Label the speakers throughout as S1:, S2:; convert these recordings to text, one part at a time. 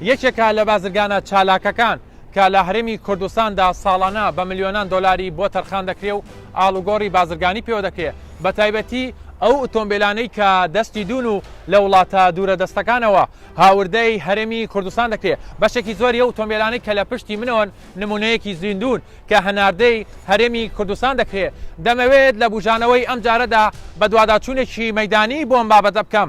S1: یەکێکە لە بازرگانە چالاکەکان کە لە هەرێمی کوردستاندا ساڵانە بە ملیۆنان دۆلاری بۆ تەرخان دەکرێ و ئاڵوگۆڕی بازرگانی پێوە دەکرێ بە تایبەتی ئەو ئوتۆمبێلانەی کە دەستی دوون و لە وڵاتە دوورە دەستەکانەوە هاوردەی هەرێمی کوردستان دەکرێ بەشێکی زۆری ئەو ئوتۆمبێلانەی کە لە پشتی منەوەن نموونەیەکی زیندوون کە هەناردەی هەرێمی کوردستان دەکرێ دەمەوێت لە بووژانەوەی ئەمجارەدا بەدواداچوونێکی مەیدانی بۆ ئەم بابەتە بکەم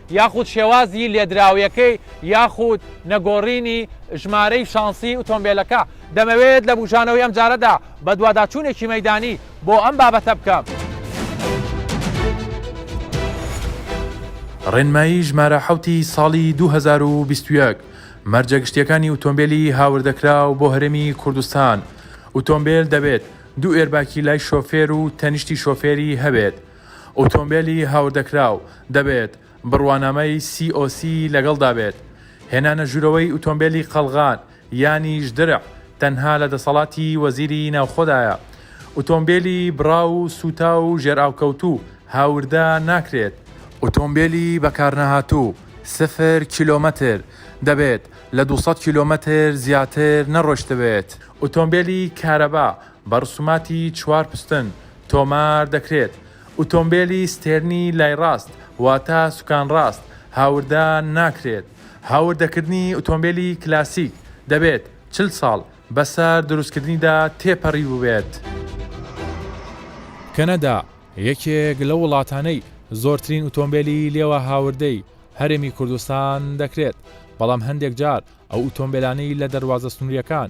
S1: یاخود شێوازی لێدراویەکەی یاخود نەگۆڕینی ژمارەی شانسی ئوتۆمبێلەکە. دەمەوێت لە بوژانەوەی ئەمجارەدا بەدواداچوونێکی مەیدانی بۆ ئەم بابەتە بکەم.
S2: ڕێنمایی ژمارە حەوتی ساڵی دوو هەزار و بیست و یەک، مەرجە گشتییەکانی ئوتۆمبێلی هاوردەکراو بۆ هەرێمی کوردستان، ئوتۆمبێل دەبێت دوو ئێرباکی لای شۆفێر و تەنیشتی شۆفێری هەبێت، ئۆتۆمبێلی هاوردەکراو دەبێت بڕوانامەی COC لەگەڵدا بێت. هێنانە ژوورەوەی ئوتۆمبێلی قەڵغان یانیش درع تەنها لە دەسەڵاتی وەزیری ناوخۆدایە. ئوتۆمبێلی بڕاو و سووتاو و ژێرئاوکەوتوو هاوردە ناکرێت. ئوتۆمبێلی بەکارنەهاتوو، سفر کیلۆمەتر، دەبێت لە دوو سەد کیلۆمەتر زیاتر نەڕۆیشتبێت. ئوتۆمبێلی کارەبا بە ڕسوماتی چوار پستن تۆمار دەکرێت. ئوتۆمبێلی ستێرنی لای ڕاست واتە سوکان ڕاست هاوردە ناکرێت. هاوردەکردنی ئوتۆمبێلی کلاسیک دەبێت چل ساڵ بەسەر دروستکردنیدا تێپەڕیبووبێت.
S1: کەنەدا یەکێک لەو وڵاتانەی زۆرترین ئوتۆمبێلی لێوە هاوردەی هەرێمی کوردستان دەکرێت، بەڵام هەندێک جار ئەو ئوتۆمبێلانەی لە دەروازە سنوورییەکان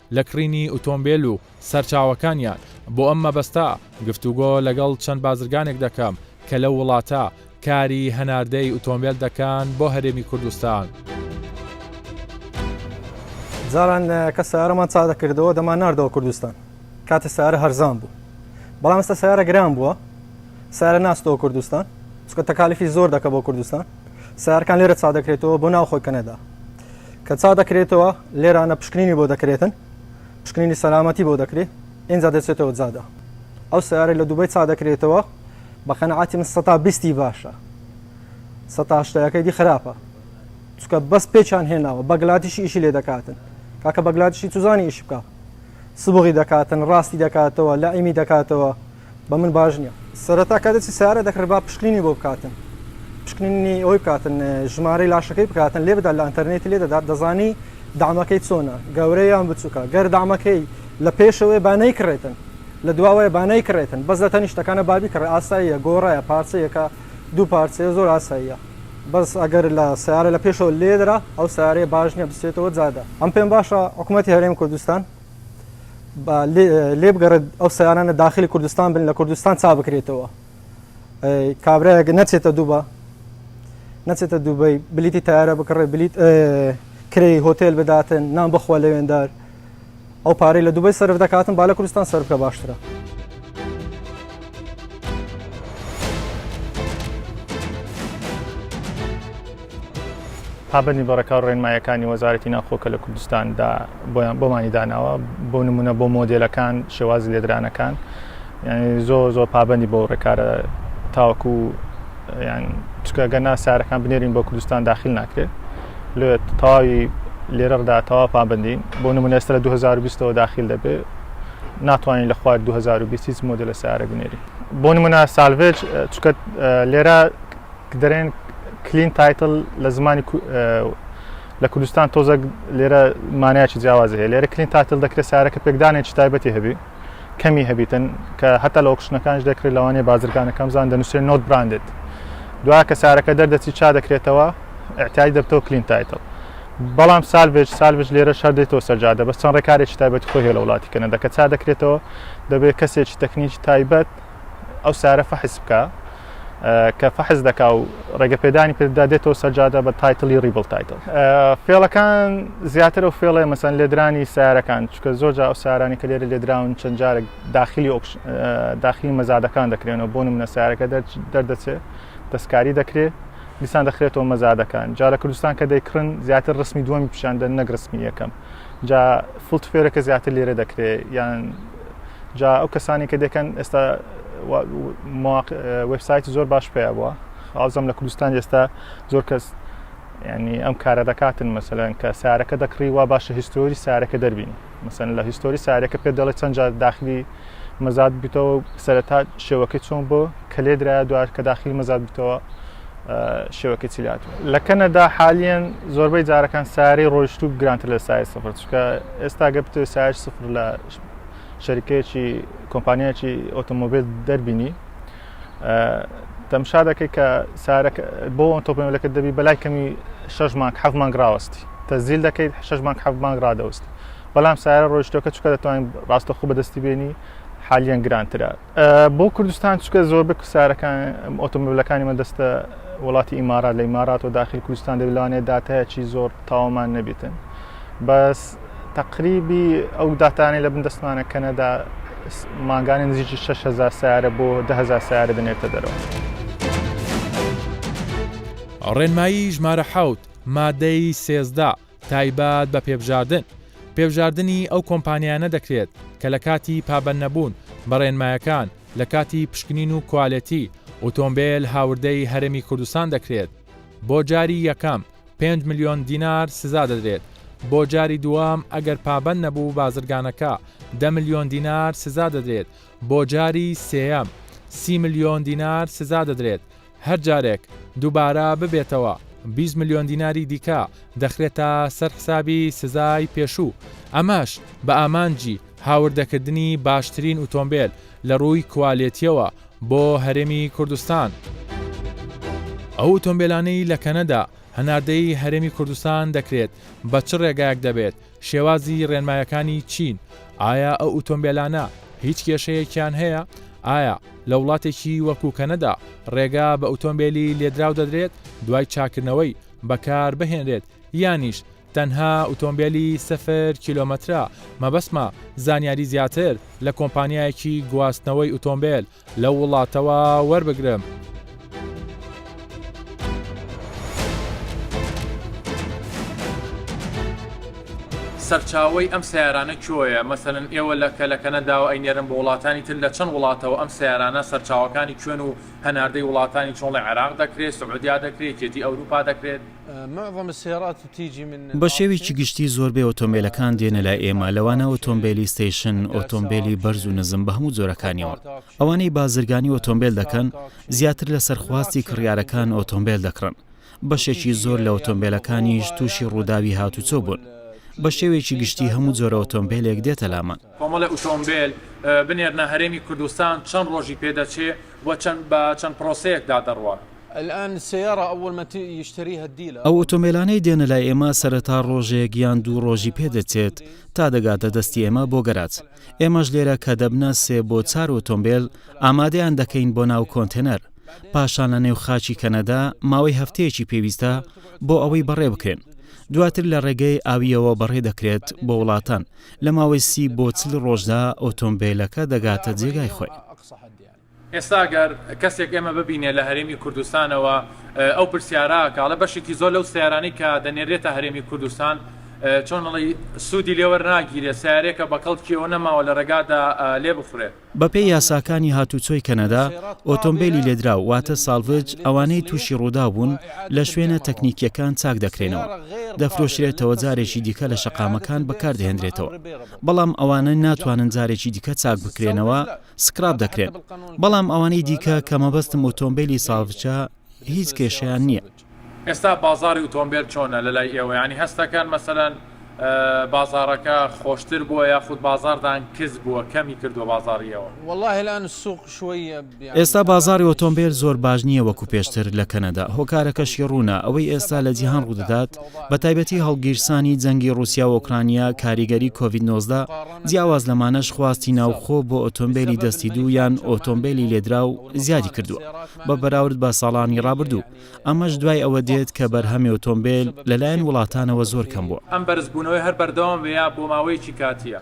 S1: لە کڕینی ئوتۆمبێل و سەرچاوەکانیان، بۆ ئەم مەبەستە گفتوگۆ لەگەڵ چەند بازرگانێک دەکەم کە لەو وڵاتە کاری هەناردەی ئوتۆمبێل دەکەن بۆ هەرێمی کوردستان.
S3: جاران کە سیارەمان چاک دەکردەوە دەمانناردەوە کوردستان کاتێ سیارە هەرزان بوو بەڵام ئێستا سیارە گران بووە سیارە ناستەوە کوردستان چکە تەکالیفی زۆر دەکە بۆ کوردستان سیارکان لێرە چا دەکرێتەوە بۆ ناوخۆی کەنەدا کە چا دەکرێتەوە لێرانە پشکنینی بۆ دەکرێتن پشکنینی سەلامەتی بۆ دەکرێت ئینجا دەچێتەوە جادا ئەو سیارە لە دوبەی چا دەکرێتەوە بە قەنەعاتی من سەتا بیستی باشە سەتاشتەکەی دی خراپە چکە بەس پێچان هێناوە بەگلاتیشی ئیشی لێ دەکاتن کاکە بەگلاتیشی توزانی ئیش بکە سبغی دەکاتن ڕاستی دەکاتەوە لە ئیمی دەکاتەوە بە من باش نیە سەرەتا کاتێ چی سارە دەکڕێ با پشکنینی بۆ بکاتن پشکنینی ئەوی بکاتن ژمارەی لاشەکەی بکاتن لێ بدات لە ئەتەرنێتی لێ دەدات دەزانی دامەکەی چۆنە گەورەیان بچووکە گەر دامەکەی لە پێشەوەی بانەی کڕێتن لە دواوەیە بانەی کڕێتن بەس لە تەنیشتەکانە بابی کڕێ ئاساییە گۆڕایە پارچەیەەکە دوو پارچەیە زۆر ئاساییە بەس ئەگەر لە سیارە لە پێشەوە لێدرا ئەو سارەیە باش نیە بسێتەوە جادە ئەم پێم باشە حکوومەتی هەرێم کوردستان لێ بگەڕێت ئەو سیارانە داخلی کوردستان بن لە کوردستان چا بکرێتەوە کابراەک نەچێتە دووبە نەچێتە دووبەی بلیتی تارە بکڕێ بلیت کرێی هۆتێل بداتن نان بخوا لەوێندار ئەو پارەی لە دوبەی سرف دەکاتن با لە کوردستان سرف بکە باشترە.
S4: پابەندی بە ڕێکا و ڕێنمایەکانی وەزارەتی ناوخۆ کە لە کوردستاندا بۆیان بۆمانی داناوە بۆ نمونە بۆ مۆدلەکان شێوازی لێدرانەکان یعنی زۆر زۆر پابەندی بۆ ڕێکارە تاوەکو چکەگە ناسارەکان بنێرین بۆ کوردستان داخل ناکرێت لێ تەواوی لێرەدا تەوا پابندین بۆ نمونە ئێستا لە 2020ەوە داخل دەبێت ناتوانین لە خوار 2020 هیچ مۆدێلە سیارە بنێرین بۆ نمونە سالڤێج چکە لێرە دەرێن کلین تایتل لە زمانی لە کوردستان تۆزە لێرە مانایکی جیاواز هەیە لێرە کلین تاتل دەکرێت سارەکە پێکدانێکی تایبەتی هەبی کەمی هەبیتن کە هەتا لە ئۆکشنەکانش دەکرێت لەوانێ بازرگانەکەم زان دەنووسێت نۆت براندێت دوا کە سارەکە دەردەچی چا دەکرێتەوە اعتیادی دەبتەوە کلین تایتڵ بەڵام سالبێج سالبێج لێرە شار دێتەوە سەرجادە بەس چەند ڕێکارێکی تایبەت خۆی هێڵە وڵاتی کەنە دەکە چا دەکرێتەوە دەبێت کەسێکی تەکنیکی تایبەت ئەو سارە فەحس بکە کە فەحز دەکا و ڕێگە پێدانی پێدا دێتەوە سەرجادە بە تایتلی ریبل تایتل فێڵەکان زیاتر و فێڵێ مەسەن لێدرانی سارەکان چکە زۆر جا ئەو سارانی کە لێرە لێدراون چەند جارێک داخلی ئۆکش داخلی مەزادەکان دەکرێنەوە بۆ منە سارەکە دەردەچێت دەستکاری دەکرێت دیسان دەخرێتەوە مەزادەکان جا لە کوردستان کە دەیکڕن زیاتر ڕسمی دووەمی پیشاندە نەک ڕسمی یەکەم جا فلت فێرەکە زیاتر لێرە دەکرێت یان جا ئەو کەسانی کە دەکەن ئێستا وبسایتی زۆر باش پێ بووە ئازم لە کوردستان ئێستا زۆر کەس ینی ئەم کارە دەکاتن مەسەلەن کە سارەکە دەکڕی وا باشە هیستۆری سارەکە دەربین مەسەن لە هیستۆری سارەکە پێ دەڵێ چەند جار داخلی مەزاد بوویتەوە سەرەتا شێوەکەی چۆن بۆ کە لێ درایە دوار کە داخلی مەزاد بوویتەوە شێوەکە چیلات لە کەنەدا حالیان زۆربەی جارەکان ساری ڕۆیشت و گرانتر لە سای سفر چکە ئێستا گەپتە سای سفر لە شەریکەیەکی کۆمپانیایکی ئۆتۆمۆبیل دەربینی تەمشا دەکەی کە سارەک بۆ ئەم تۆپە مێلەکەت دەبی بەلای کەمی شەش مانگ حەف مانگ ڕاوەستی تەزیل دەکەیت شەش مانگ حەف مانگ ڕادەوەستی بەڵام سارە ڕۆیشتەکە چکە دەتوانین ڕاستەخۆ بەدەستی بێنی حالیان گرانترە بۆ کوردستان چکە زۆر بک سارەکان ئۆتۆمبیلەکانی مە دەستە وڵاتی ئیمارات لە ئیمارات و داخل کوردستان دەبلانێ داتایەکی زۆر تاوامان نەبێتن بەس تەقریبی ئەو داتانەی لە بن دەستمانە کەنەدا مانگانە نزیکی 6هزار سیارە بۆ دههزار سیارە دەنێتە دەرەوە.
S2: ڕێنمایی ژمارە حەوت، مادەی سێزدە، تایبەت بە پێبژاردن، پێبژاردنی ئەو کۆمپانیایانە دەکرێت کە لە کاتی پابەندنەبوون بە ڕێنمایەکان لە کاتی پشکنین و کوالێتی ئۆتۆمبێل هاوردەی هەرێمی کوردستان دەکرێت. بۆ جاری یەکەم پێنج ملیۆن دینار سزا دەدرێت، بۆ جاری دووەم ئەگەر پابەند نەبوو بازرگانەکە دە ملیۆن دینار سزا دەدرێت، بۆ جاری سێیەم سی ملیۆن دینار سزا دەدرێت، هەر جارێک دووبارە ببێتەوە بیست ملیۆن دیناری دیکە دەخرێتە سەر حسابی سزای پێشوو، ئەمەش بە ئامانجی هاوردەکردنی باشترین ئوتۆمبێل. لە رووی کوالێتیەوە بۆ هەرێمی کوردستان. ئەو ئۆتۆمبێلانەی لە کەنەدا هەناردەی هەرێمی کوردستان دەکرێت بە چ رێگایەک دەبێت؟ شێوازی رێنمایەکانی چین؟ ئایا ئەو ئوتۆمبێلانە هیچ کێشەیەکیان هەیە؟ ئایا لە وڵاتێکی وەکو کەنەدا رێگا بە ئوتۆمبێلی لێدراو دەدرێت دوای چاکردنەوەی بەکار بهێنرێت یانیش تەنها ئوتۆمبێلی سفر کیلۆمەترە. مەبەستمە زانیاری زیاتر لە کۆمپانیایەکی گواستنەوەی ئوتۆمبێل لەو وڵاتەوە وەربگرم.
S1: سەرچاوەی ئەم سەیارانە کوێیە؟ مەسەلەن ئێوە لە کە لە کەنەداوە ئەینێرن بۆ وڵاتانی تر لە چەند وڵاتەوە ئەم سەیارانە سەرچاوەکانی کوێن و هەناردەی وڵاتانی چۆنڵی عێراق دەکرێت سعودیا دەکرێت یەکێتی ئەوروپا دەکرێت؟
S5: بە شێوەیەکی گشتی زۆربەی ئۆتۆمبێلەکان دێنە لای ئێمە، لەوانە ئۆتۆمبێلی ستەیشن، ئۆتۆمبێلی بەرز و نزم بە هەموو جۆرەکانیەوە. ئەوانەی بازرگانی ئۆتۆمبێل دەکەن، زیاتر لەسەر خواستی کڕیارەکان ئۆتۆمبێل دەکڕن. بەشێکی زۆر لە ئۆتۆمبێلەکانیش تووشی ڕووداوی هاتووچۆ بوون. بە شێوەیەکی گشتی هەموو جۆرە ئۆتۆمبێلێک دێتە لامان. کۆمەڵی ئۆتۆمبێل
S1: بنێرنە هەرێمی کوردستان چەند ڕۆژی پێدەچێ و بە چەند پرۆسەیەکدا دەڕوات؟
S5: ئەو ئۆتۆمێلانەی دێنە لای ئێمە سەرەتا ڕۆژێک یان دوو ڕۆژی پێ دەچێت تا دەگاتە دەستی ئێمە بۆ گەراج ئێمەش لێرە کە دەبنە سێ بۆ چار ئۆتۆمبێل ئامادەیان دەکەین بۆ ناو کۆنتێنەر پاشان لە نێو خاچی کەنەدا ماوەی هەفتەیەکی پێویستە بۆ ئەوەی بەڕێ بکرێن دواتر لە ڕێگەی ئاویەوە بەڕێ دەکرێت بۆ وڵاتان لە ماوەی سی بۆ چل ڕۆژدا ئۆتۆمبیلەکە دەگاتە جێگای خۆی.
S1: ئێستا گەر کەسێک ئێمە ببینێ لە هەرێمی کوردستانەوە ئەو پرسیارە ئەکا ئەڵێ بەشێکی زۆر لەو سەیارانەی کە دەنێرێتە هەرێمی کوردستان چۆن ئەڵێی سوودی لێ وەرناگیرێ سەیارەیەکە بە کەڵکی ئەوە نەماوە لە رێگادا لێ بخورێ. بە پێی یاساکانی
S5: هاتووچۆی کەنەدا ئۆتۆمبێلی لێدراو واتە سالڤج ئەوانەی تووشی رووداو بوون لە شوێنە تەکنیکییەکان چاک دەکرێنەوە دەفرۆشرێتەوە جارێکی دیکە لە شەقامەکان بەکار دەهێندرێتەوە بەڵام ئەوانە ناتوانن جارێکی دیکە چاک بکرێنەوە سکراب دەکرێن بەڵام ئەوانەی دیکە کە مەبەستم ئۆتۆمبێلی ساڤجە هیچ
S1: کێشەیان نییە. ئێستا بازاڕی ئوتۆمبێل
S5: چۆنە
S1: لەلای ئێوە یانی هەستەکەن مەسەلەن بازاڕەکە خۆشتر بووە یاخود بازاڕدان کز بووە کەمی کردووە بازاڕی ئێوە؟
S6: ئێستا بازاڕی
S5: ئۆتۆمبێل زۆر باش نییە وەکو پێشتر لە کەنەدا هۆکارەکەشی ڕوونە ئەوەی ئێستا لە جیهان ڕوودەدات بە تایبەتی هەڵگیرسانی جەنگی ڕوسیا و ئۆکرانیا کاریگەری کۆڤید نۆزدە جیاواز لەمانەش خواستی ناوخۆ بۆ ئۆتۆمبێلی دەستی دوو یان ئۆتۆمبێلی لێدراو زیادی کردووە بە بەراورد بە ساڵانی ڕابردوو، ئەمەش دوای ئەوە دێت کە بەرهەمی ئۆتۆمبێل لەلایەن وڵاتانەوە زۆر کەم بووە. ئەم بەرزبوونەوەی هەر
S1: بەردەوام بێ یا بۆ ماوەیەکی کاتییە؟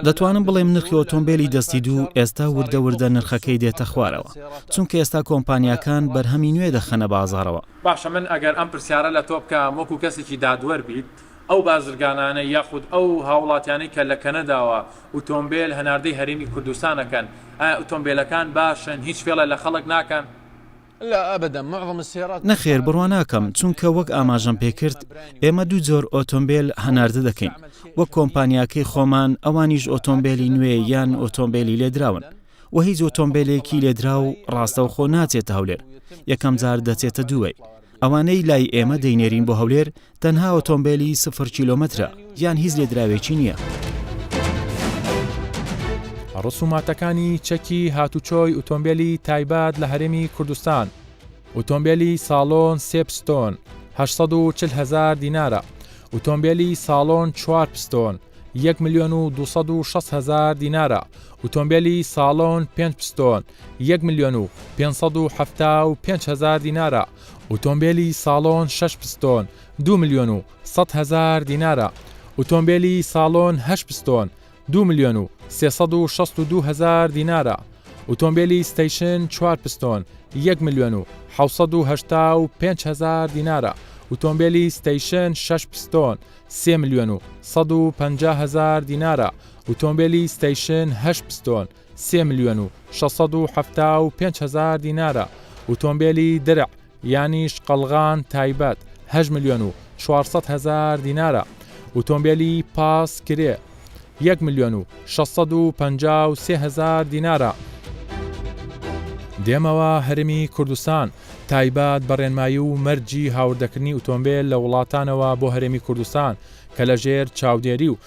S6: دەتوانم بڵێم نرخی
S5: ئۆتۆمبێلی دەستی دوو ئێستا وردە وردە نرخەکەی دێتە خوارەوە، چونکە ئێستا کۆمپانیاکان بەرهەمی نوێ دەخەنە بازاڕەوە. باشە من ئەگەر
S1: ئەم پرسیارە لە تۆ بکەم وەکو کەسێکی دادوەر بیت، ئەو بازرگانانە یاخود ئەو هاوڵاتیانەی کە لە کەنەداوە ئوتۆمبێل هەناردەی هەرێمی کوردستان ئەکەن ئایا ئوتۆمبێلەکان باشن هیچ فێڵێ لە خەڵک ناکەن؟
S6: نەخێر بڕوا ناکەم
S5: چونکە وەک ئاماژەم پێ کرد ئێمە دوو جۆر ئۆتۆمبێل هەناردە دەکەین وەک کۆمپانیاکەی خۆمان ئەوانیش ئۆتۆمبێلی نوێ یان ئۆتۆمبێلی لێدراون وە هیچ ئۆتۆمبێلێکی لێدراو ڕاستەوخۆ ناچێتە هەولێر یەکەم جار دەچێتە دوبەی ئەوانەی لای ئێمە دەینێرین بۆ هەولێر تەنها ئۆتۆمبێلی سفر کیلۆمەترە یان هیچ لێدراوێکی نییە.
S2: ڕسوماتەکانی چەکی هاتوچۆی ئوتۆمبێلی تایبەت لە هەرێمی کوردستان، ئوتۆمبێلی ساڵۆن سێ پستۆن هەشت سەد و چل هەزار دینارە، ئوتۆمبێلی ساڵۆن چوار پستۆن یەک ملیۆن و دوو سەد و شەست هەزار دینارە، ئوتۆمبێلی ساڵۆن پێنج پستۆن یەک ملیۆن و پێنج سەد و حەفتا و پێنج هەزار دینارە، ئوتۆمبێلی ساڵۆن شەش پستۆن دوو ملیۆن و سەد هەزار دینارە، ئوتۆمبێلی ساڵۆن هەشت پستۆن دوو ملیۆن و سێ سەد و شەست و دوو هەزار دینارە، ئوتۆمبێلی ستەیشن چوار پستۆن یەک ملیۆن و حەوت سەد و هەشتا و پێنج هەزار دینارە، ئوتۆمبێلی ستەیشن شەش پستۆن سێ ملیۆن و سەد و پەنجا هەزار دینارە، ئوتۆمبێلی ستەیشن هەشت پستۆن سێ ملیۆن و شەش سەد و حەفتا و پێنج هەزار دینارە، ئوتۆمبێلی درع یانیش قەڵغان تایبەت هەشت ملیۆن و چوار سەد هەزار دینارە، ئوتۆمبێلی پاس کرێ یەک ملیۆن و شەش سەد و پەنجا و سێ هەزار دینارە. دێمەوە هەرێمی کوردستان، تایبەت بە ڕێنمایی و مەرجی هاوردەکردنی ئوتۆمبێل لە وڵاتانەوە بۆ هەرێمی کوردستان کە لەژێر چاودێری و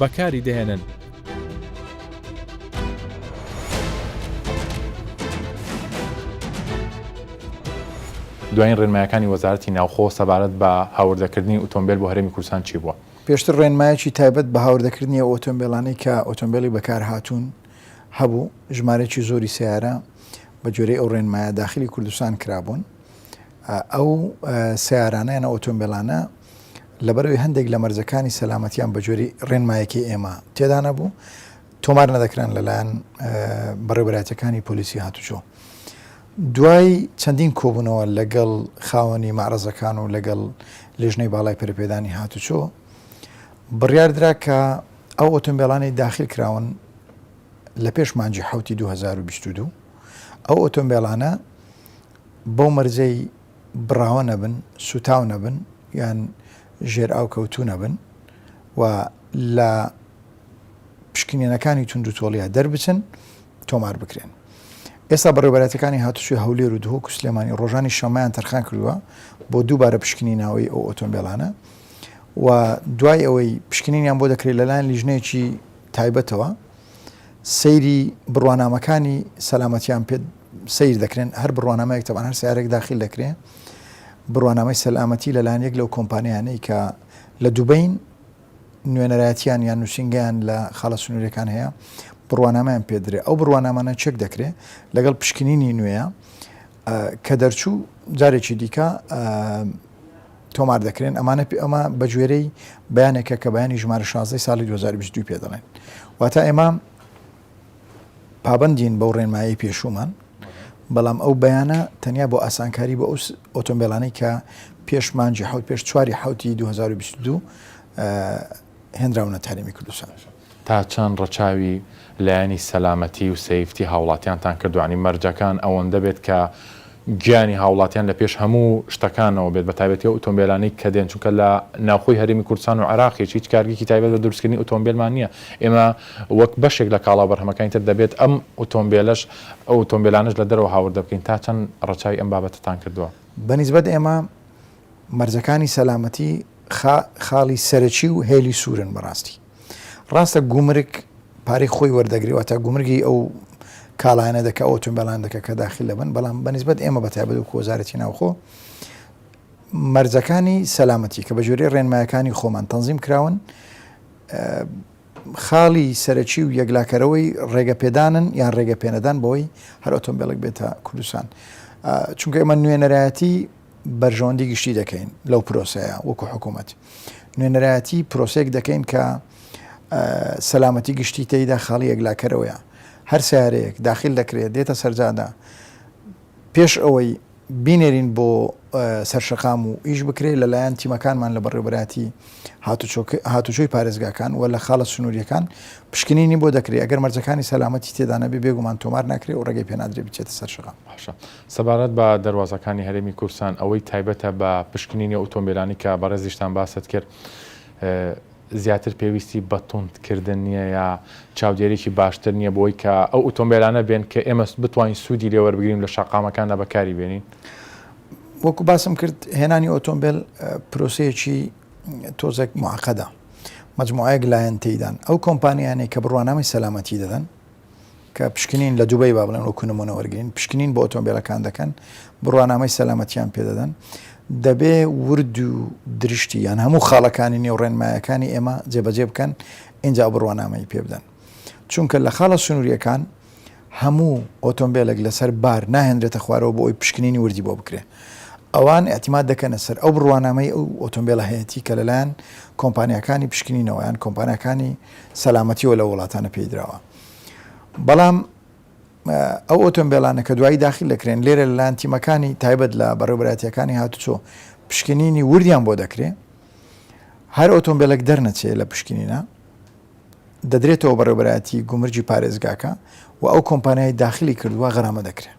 S2: بەکاری دەهێنن. دوایین ڕێنمایەکانی وەزارەتی ناوخۆ سەبارەت بە هاوردەکردنی ئۆتۆمبێل بۆ هەرێمی کوردستان چی بووە؟ پێشتر ڕێنمایەکی
S7: تایبەت بە هاوردەکردنی ئەو ئۆتۆمبێلانەی کە ئۆتۆمبێلی بەکارهاتوون هەبوو، ژمارەیەکی زۆری سەیارە بە گوێرەی ئەو ڕێنمایە داخلی کوردستان کرابوون، ئەو سەیارانە یانە ئۆتۆمبێلانە لەبەرئەوەی هەندێک لە مەرجەکانی سەلامەتیان بەگوێرەی ڕێنمایەکەی ئێمە تێدا نەبوو تۆمار نەدەکران لەلایەن بەڕێبەرایەتەکانی پۆلیسی هاتوچۆ دوای چەندین کۆبوونەوە لەگەڵ خاوەنی مەعرەزەکان و لەگەڵ لێژنەی باڵای پەرپێدانی هاتوچۆ بڕیاردرا کە ئەو ئۆتۆمبیلانی داخل کراون لە پێش مانجی حوتی 2022 ئەو ئۆتۆمبیلانە بەو مەرجەی بڕاوە نەبن، سووتاو نەبن یان ژێر ئاو کەوتوو نەبن و لە پشکنینەکانی توند و تۆڵیا دەربچن تۆمار بکرێن. ئێستا بەڕێوبەرەتەکانی هاتوچوی هەولێر و دهۆک و سلێمانی ڕۆژانی شەمەیان تەرخان کردووە بۆ دووبارە پشکنی ناوەی ئەو ئۆتۆمبیلانە و دوای ئەوەی پشکنینیان بۆ دەکرێت لەلایەن لیژنەیەکی تایبەتەوە سەیری بڕوانامەکانی سەلامەتیان پێ سەیر دەکرێن هەر بڕوانامەیەک تەبان هەر سیارێک داخل دەکرێن بڕوانامەی سەلامەتی لەلاەن یەک لەو کۆمپانیانەی کە لە دوبین نوێنەرایەتیان یان نووسنگیان لە خاڵە سنوورەکان هەیە بڕوانامەیان پێدرێ ئەو بڕوانامانە چێک دەکرێ لەگەڵ پشکنینی نوێە کە دەرچوو جارێکی دیکە تۆمار دەکرێن ئەمانە پێ ئەمە بەگوێرەی بەیانێکە کە بەیانی ژمارە شازدەی ساڵی 2022 پێ دەڵێن واتا ئێمە پابندین بەو ڕێنمایی پێشومان بەڵام ئەو بەیانە تەنیا بۆ ئاسانکاری بۆ ئەوس ئۆتۆمبیلانی کە پێشمانجی حوت پێش چواری حوتی 2022 هێنراونە تاریمی کوردستان. تا چەند
S2: ڕەچاوی لایەنی سەلامەتی و سەیفتی هاوڵاتیانتان کردوە؟ یانی مەرجەکان ئەوەندە بێت کە گیانی هاوڵاتیان لە پێش هەموو شتەکانەوە بێت بە تایبەتی ئەو ئوتۆمبێلانەی کە دێن چونکە لە ناوخۆی هەرێمی کوردستان و عێراقیش هیچ کارگەیەکی تایبەت بە دروستکردنی ئوتۆمبێلمان نیە ئێمە وەک بەشێک لە کاڵا و بەرهەمەکانی تر دەبێت ئەم ئوتۆمبێلەش ئەو ئوتۆمبێلانەش لە دەرەوە هاوردە بکەین تا چەند ڕەچاوی ئەم بابەتەتان کردوە؟ بە نیسبەت ئێمە
S7: مەرجەکانی سەلامەتی خاڵی سەرەکی و هێلی سورن بەڕاستی. ڕاستە گومرگ پارەی خۆی وەردەگری واتە گومرگی ئەو کاڵایەنە دەکە ئەو تۆمبیلان دەکە کە داخل لەبن بەڵام بەنسبت ئێمە بە تابەت و کۆزارەتی ناوخۆ مەرجەکانی سەلامەتی کە بە جۆری ڕێنمایەکانی خۆمان تەنظیم کراون خاڵی سەرەکی و یەکلاکەرەوەی ڕێگە پێدانن یان ڕێگە پێنەدان بۆی هەر ئۆتۆمبیلک بێتە کوردستان چونکە ئێمە نوێنەرایەتی بەرژەوەندی گشتی دەکەین لەو پرۆسەیە وەکو حکوومەت نوێنەرایەتی پرۆسێک دەکەین کە سەلامەتی گشتی تێیدا خاڵی یەکلاکەرەوەیە هەر سارەیەک داخل دەکرێت دێتە سەرجادا پێش ئەوەی بینێرین بۆ سەرشەقام و ئیش بکرێت لەلایەن تیمەکانمان لە بەڕێوبەتی هاتوچۆی پارێزگاکان و لە خاڵە سنووریەکان پشکنینی بۆ دەکرێت ئەگەر مەرجەکانی سەلامەتی تێدانە بێ بێگومان تۆمار ناکرێت و ڕێگەی پێنادرێ بچێتە سەرشەقام سەبارەت
S2: بە دەروازەکانی هەرێمی کوردستان ئەوەی تایبەتە بە پشکنینی ئۆتۆمبێلانی کە بەڕێزیشتان باست کرد زیاتر پێویستی بە توند کردن نییە یا چاودێرێکی باشتر نییە بۆی کە ئەو ئۆتۆمبێلانە بێن کە ئێمە بتوانین سوودی لێوەربگرین لە شەقامەکاندا بەکاری بێنین وەکو
S7: باسم کرد هێنانی ئۆتۆمبیل پرۆسەیەکی تۆزێک معقدە مجموعەیەک لایەن تێدان ئەو کۆمپانیانێک کە بڕوانامی سەلامەتی دەدەن کە پشکنین لە دوبەی با بڵێن وەکو نمونە وەرگرین پشکنین بۆ ئۆتۆمبیلەکان دەکەن بڕوانامەی سەلامەتیان پێدەدەن دەبێ ورد و درشتی یان هەموو خاڵەکانی نێو ڕێنمایەکانی ئێمە جێبەجێ بکەن اینجا بڕوانامەی پێ بدەن چونکە لە خاڵە سنووریەکان هەموو ئۆتۆمبیلێک لەسەر بار ناهێنرێتە خوارەوە بۆ ئەوی پشکنینی وردی بۆ بکرێ ئەوان اعتیماد دەکەنە سەر ئەو بڕوانامەی ئەو ئۆتۆمبیلە هەیەی کە لەلایەن کۆمپانیەکانی پشکنینەوەیان کۆمپانیەکانی سەلامەتیەوە لەو وڵاتانە پێیدراوە بەڵام ئەو ئۆتۆمبیلانە کە دوایی داخل دەکرێن لێرە لەلایەن تیمەکانی تایبەت لە بەڕێبراتیەکانی هاتوچۆ پشکنینی وردیان بۆ دەکرێ هەر ئۆتۆمبیلێک دەرنەچێ لە پشکنینە دەدرێتەوە بەڕێبراتی گومرجی پارێزگاکە و ئەو کۆمپانیای داخلی کردووە غەرامە دەکرێت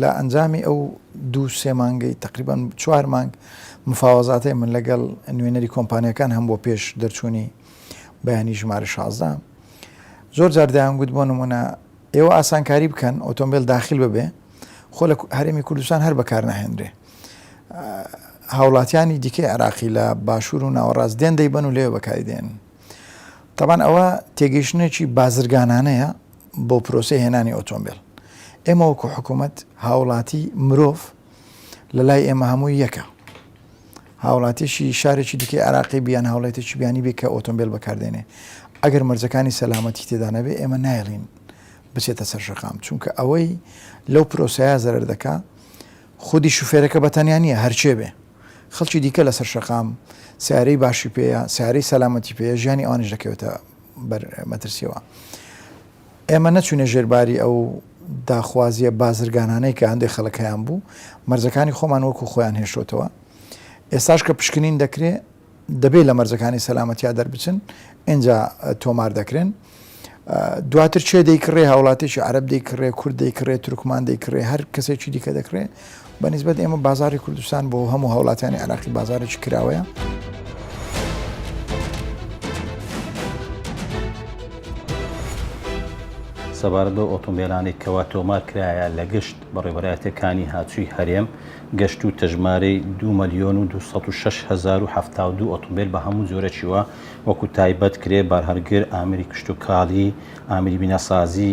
S7: لە ئەنجامی ئەو دوو سێ مانگەی تەقریبەن چوار مانگ مفاوەزاتەی من لەگەڵ نوێنەری کۆمپانیاکان هەم بۆ پێش دەرچوونی بەیانی ژمارە شازدە زۆر جار دەیان گوت بۆ نمونە ئێوە ئاسانکاری بکەن ئۆتۆمبیل داخل ببێ خۆ لە هەرێمی کوردستان هەر بەکار ناهێنرێ هاوڵاتیانی دیکەی عراقی لە باشوور و ناوەڕاست دێن دەیبەن و لێ بەکاری دێن تەبان ئەوە تێگەیشتنێکی بازرگانانەیە بۆ پرۆسی هێنانی ئۆتۆمبیل ئێمە وەکو حکوومەت هاوڵاتی مرۆڤ لە لای ئێمە هەموو یەکە هاوڵاتیشی شارێکی دیکە عراقی بیان هاوڵێتێکی بیانی بێ کە ئۆتۆمبیل بەکاردێنێ ئەگەر مەرجەکانی سەلامەتی تێدا نەبێ ئێمە نایڵین بچێتە سەر شەقام چونکە ئەوەی لەو پرۆسەیە زەرەر دەکا خودی شوفێرەکە بەتەنیا نیە هەرچێ بێ خەڵکی دیکە لەسەر شەقام سەیارەی باشی پێیە، سەیارەی سەلامەتی پێیە، ژیانی ئەوانیش دەکەوێتە بەر مەترسییەوە. ئێمە نەچووینە ژێر باری ئەو داخوازییە بازرگانانەی کە هەندێک خەڵک هەیانبوو، مەرزەکانی خۆمان وەکو خۆیان هێشتۆتەوە. ئێستاش کە پشکنین دەکرێ، دەبێت لە مەرزەکانی سەلامەتیا دەربچن ئینجا تۆمار دەکرێن دواتر چێ دەیکڕێ هاوڵاتێکی عرب دەیکڕێ کورد دەیکڕێ ترکمان دەیکڕێ هەر کەسێکی دیکە دەکرێ بەنیسبەت ئێمە بازاری کوردستان بۆ هەموو هاوڵاتیانی عراقی بازارێکی کراوەیە.
S8: سەبارەت بە ئۆتۆمبیلانی کەوا تۆمار کرایە لە گشت بەڕێوەبەرایەتەکانی هاتووی هەرێم گەشتووتە ژمارەی دوو مەلیۆن و دوو سەد و شەش هەزار و حەفتا و دوو ئۆتۆمبێل بە هەموو جۆرەکی و وەکو تایبەت، کرێ، بارهەڵگر، ئامێری کشتوکاڵی، ئامێری بیناسازی،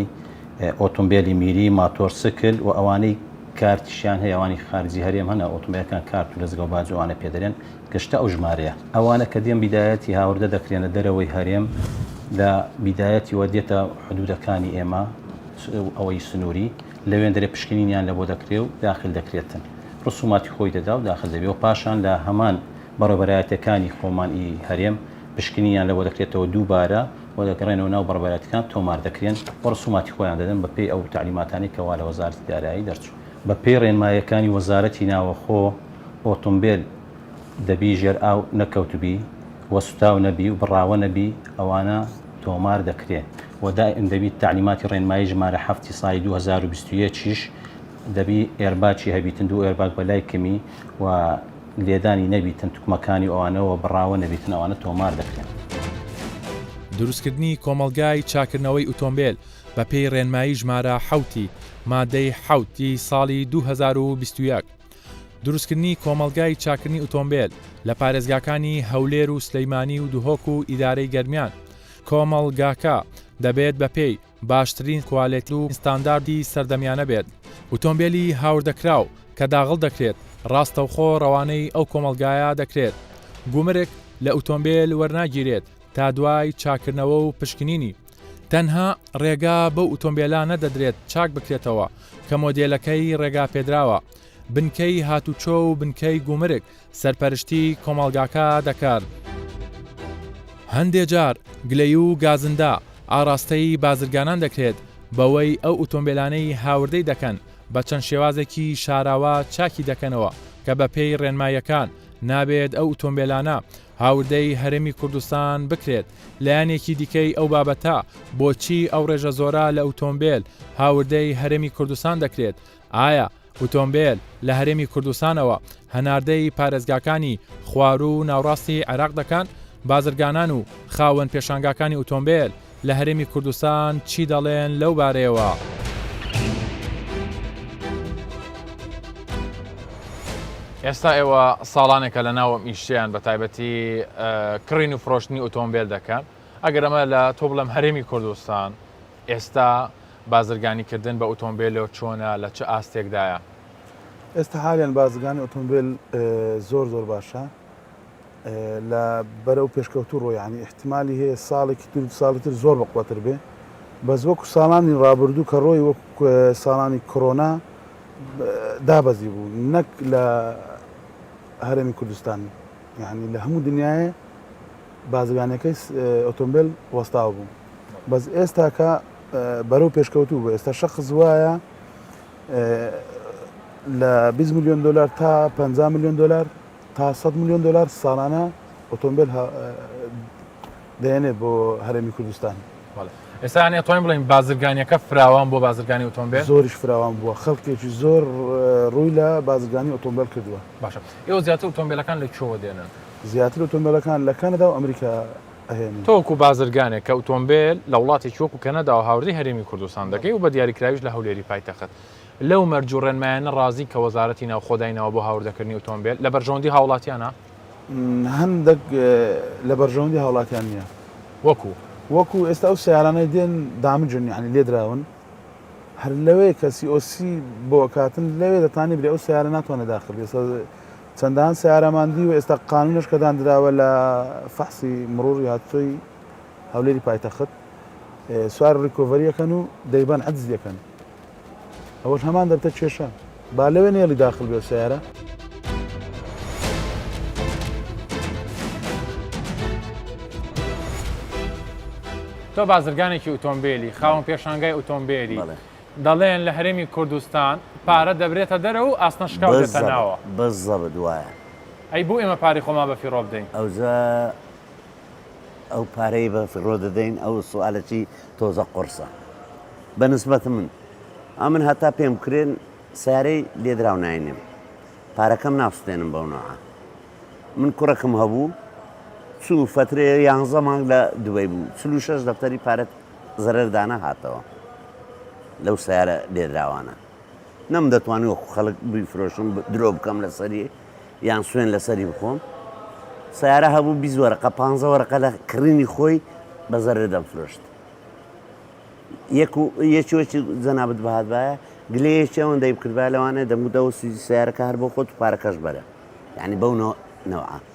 S8: ئۆتۆمبێلی میری، ماتۆرسکل و ئەوانەی کارتیشیان هەیە ئەوانی خارجی هەرێم هەن ئۆتۆمبێلەکان کارت و لەزگە و باج و ئەوانە پێدەرێن گەشتە ئەو ژمارەیە. ئەوانە کە دێن بیدایەتی هاوردە دەکرێنە دەرەوەی هەرێم لە بیدایەتیوە دێتە حدودەکانی ئێمە و ئەوەی سنووری. لەوێندەرێ پشکنینیان لەبۆ دەکرێ و داخل دەکرێتن رسوماتی خۆی دەدا و داخل دەبێ و پاشان لە هەمان بەڕێوەبەرایەتیەکانی خۆمان ی هەرێم پشکنینیان لەبۆ دەکرێتەوە دووبارە و دەگەڕێنەوە ناو بەڕێوەبەرایەتیەکان تۆمار دەکرێن و رسوماتی خۆیان دەدەن بە پێی ئەو تەعلیماتانەی کە وا لە وەزارەتی دارایی دەرچوو. بە پێی رێنمایەکانی وەزارەتی ناوەخۆ ئۆتۆمبێل دەبی ژێر ئاو نەکەوتبی و سوتاو نەبی و بڕاوە نەبی ئەوانە تۆمار دەکرێن. وە دائیم دەبیت تەعلیماتی ڕێنمایی ژمارە حەفت ی ساڵی دوو هەزار و بیست و یەک یش دەبی ئێرباکی هەبیتن دوو ئێرباک بەلای کمی وە لێدانی نەبیتن توکمەکانی و ئەوانە وە بڕاوە نەبیتن ئەوانە تۆمار دەکرێن. دروستکردنی
S2: کۆمەڵگای چاکردنەوەی ئوتۆمبێل بە پێی ڕێنمایی ژمارە حەوت ی مادەی حەوت ی ساڵی دوو هەزار و بیست و یەک دروستکردنی کۆمەڵگای چاکردنی ئوتۆمبێل لە پارێزگاکانی هەولێر و سلیمانی و دهۆک و ئیدارەی گەرمیان کۆمەڵگاکە دەبێت بە پێی باشترین کوالێتی و ستانداردی سەردەمیانە بێت. ئوتۆمبێلی هاوردەکراو کە داغڵ دەکرێت ڕاستەوخۆ ڕەوانەی ئەو کۆمەڵگایە دەکرێت. گومرک لە ئوتۆمبێل وەرناگیرێت تا دوای چاککردنەوە و پشکنینی. تەنها ڕێگا بەو ئوتۆمبێلانە دەدرێت چاک بکرێتەوە کە مۆدێلەکەی ڕێگاپێدراوە. بنکەی هاتووچۆ و بنکەی گومرک سەرپەرشتی کۆمەڵگاکە دەکەن. هەندێ جار گلەیی و گازندە ئاڕاستەی بازرگانان دەکرێت بەوەی ئەو ئوتۆمبێلانەی هاوردەی دەکەن بە چەند شێوازێکی شاراوە چاکی دەکەنەوە کە بە پێی ڕێنماییەکان نابێت ئەو ئوتۆمبێلانە هاوردەی هەرێمی کوردستان بکرێت لایەنێکی دیکەی ئەو بابەتە بۆچی ئەو ڕێژە زۆرە لە ئوتۆمبێل هاوردەی هەرێمی کوردستان دەکرێت ئایا ئۆتۆمبێل لە هەرێمی کوردستانەوە هەناردەی پارێزگاکانی خواروو و ناوڕاستی عێراق دەکەن، بازرگانان و خاوەن پێشانگاکانی ئۆتۆمبێل لە هەرێمی کوردستان چی دەڵێن لەو بارەیەوە؟ ئێستا
S1: ئێوە ساڵانێکە لە ناو ئەم ئیشەیان بە تایبەتی کڕین و فرۆشتنی ئۆتۆمبیل دەکەن ئەگەر ئەمە لە تۆ بڵێم هەرێمی کوردستان ئێستا بازرگانیکردن بە ئۆتۆمبێلۆ چۆنە لە چ ئاستێکدایە؟ ئێستا
S9: حالیەن بازرگانی ئۆتۆمبێل زۆر زۆر باشە لە بەرەو پێشکەوتو ڕۆ یعنی احتمالی هەیە ساڵێکی تر ساڵی تر زۆر بەقوەتر بێ بەس وەکو ساڵانی ڕابردوو کە ڕۆی وەک ساڵانی کۆرۆنا دابەزی بوو نەک لە هەرێمی کوردستان یعنی لە هەموو دنیاە بازرگانەکەی ئۆتۆمبیل وەستاو بوو بەس ئێستاکە بەرەو پێشکەوتوو بوو ئێستا شخص وایە لە 20 میلیۆن دلار تا 50 میلیۆن دلار تا 100 میلیۆن دلار ساڵانە ئۆتۆمبیل دێنێت بۆ هەرێمی کوردستان ئێستانی
S1: ئەتوانین بڵین بازرگانیەکە فراوان بۆ بازرگانی ئۆتۆمبیل زۆریش فراوان بووە
S9: خەڵکێکی زۆر ڕووی لە بازرگانی ئۆتۆمبیل کردووە باشە ئێوە زیاتر
S1: ئۆتۆمبیلەکان لە چۆوە دێنن زیاتر ئۆتۆمبیلەکان
S9: لە کانەدا و ئەمریکا ئەهێنن. تۆ وەکو بازرگانێک
S1: کە ئوتۆمبێل لە وڵاتێکی وەکو کەنەداوە هاوردەی هەرێمی کوردستان دەکەی و بە دیاریکراویش لە هەولێری پایتەخت، لەو مەرج و ڕێنمایانە ڕازی کە وەزارەتی ناوخۆ دایناوە بۆ هاوردەکردنی ئوتۆمبێل، لە بەرژەوەندی هاوڵاتیانە؟
S9: هەندەک لە بەرژەوەندی هاوڵاتیان نییە. وەکو؟ وەکو ئێستا ئەو سەیارانەی دێن دامجن یانی لێدراون، هەر لەوێ کە COC بۆ ئەکاتن لەوێ دەتانی بری ئەو سەیارە ناتوانێ داخل بێ، چەندان سەیارەمان دی و ئێستا قانونەش کە داندراوە لە فەحسی مڕوڕی هاتوچۆی هەولێری پایتەخت سوار ڕیکۆڤەری ئەکەن و دەیبەن عەجز دەکەن ئەوەش هەمان دەبتە کێشە با لەوێ نێڵی داخل بێ سیارە
S1: تۆ بازرگانێکی ئۆتۆمبیلی خاوەن پێشانگای ئۆتۆمبیلی دەڵێن لە هەرێمی کوردستان پارە دەبرێتە دەرەوە و ئاسنە شکاو دێتە ناوە. بەس زەبت وایە.
S10: ئەی بۆ ئێمە
S1: پارەی خۆمان بە فیڕۆ بدەین؟ ئەوجا
S10: ئەو پارەی بە فیڕۆ دەدەین ئەو سوالە چی تۆزە قوڕسە بە نسبەت من ئەمن هەتا پێم کرێن سارەی لێدراو ناینێم پارەکەم ناسوتێنم بەو نەوە من کوڕەکەم هەبوو چوو فەترێ یانزە مانگ لە دوبەی بوو چلو شەش دەفتەری پارەت زەرەر دانەهاتەوە لەو سەیارە لێدراوانە نەم دەتوانانی وەکو خەڵک بیفرۆشم درۆ بکەم لەسەری یان سوێن لەسەری بخۆم سیارە هەبوو بی وەرەقە پ وەرەقە لە کڕینی خۆی بە زەرە دەمفرۆشت یەکێکی جەنابەت بەهاتبایە گلەیەکی ئەوەن دەی بکردبا لەوانێ دەمودەوە سیارەکە هەر بۆ خۆت پارەکەش بەرە یعنی بەو نەوە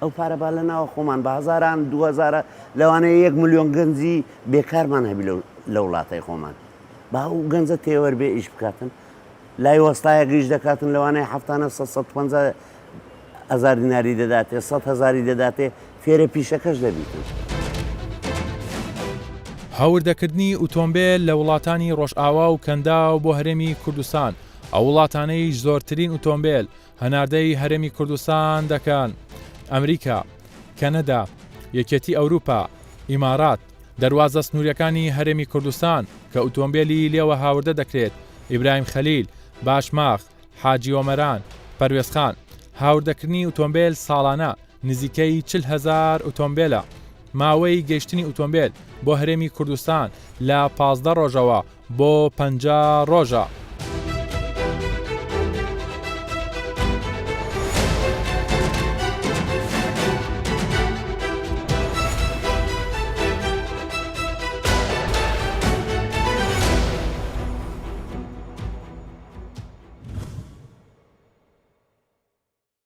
S10: ئەو پارە با لە ناوە خۆمان بە هزاران دوهزارە لەوانەیە یەک میلیۆن گەنجی بێکارمان هەبی لە وڵاتەی خۆمان با و گەنجە تێوەەر بێ ئیش بکاتن لای وەستایە گەیش دەکاتن لەوانەیە هەفتانە 150 هزار دیناری دەداتێ 100 هزاری دەداتێ فێرە پیشەکەش دەبیتن.
S2: هاوردەکردنی ئوتۆمبێل لە وڵاتانی ڕۆژئاوا و کەنداو بۆ هەرێمی کوردستان ئەو وڵاتانەیش زۆرترین ئوتۆمبێل هەناردەی هەرێمی کوردستان دەکەن، ئەمریکا، کەنەدا، یەکێتی ئەوروپا، ئیمارات، دەروازە سنووریەکانی هەرێمی کوردستان کە ئوتۆمبێلی لێوە هاوردە دەکرێت، ئیبراهیم خەلیل، باشماخ، حاجی ئۆمەران، پەروێزخان، هاوردەکردنی ئوتۆمبێل ساڵانە، نزیکەی چل هەزار ئوتۆمبێلە. ماوەی گەیشتنی ئوتۆمبێل بۆ هەرێمی کوردستان لە پازدە ڕۆژەوە بۆ پەنجا ڕۆژە.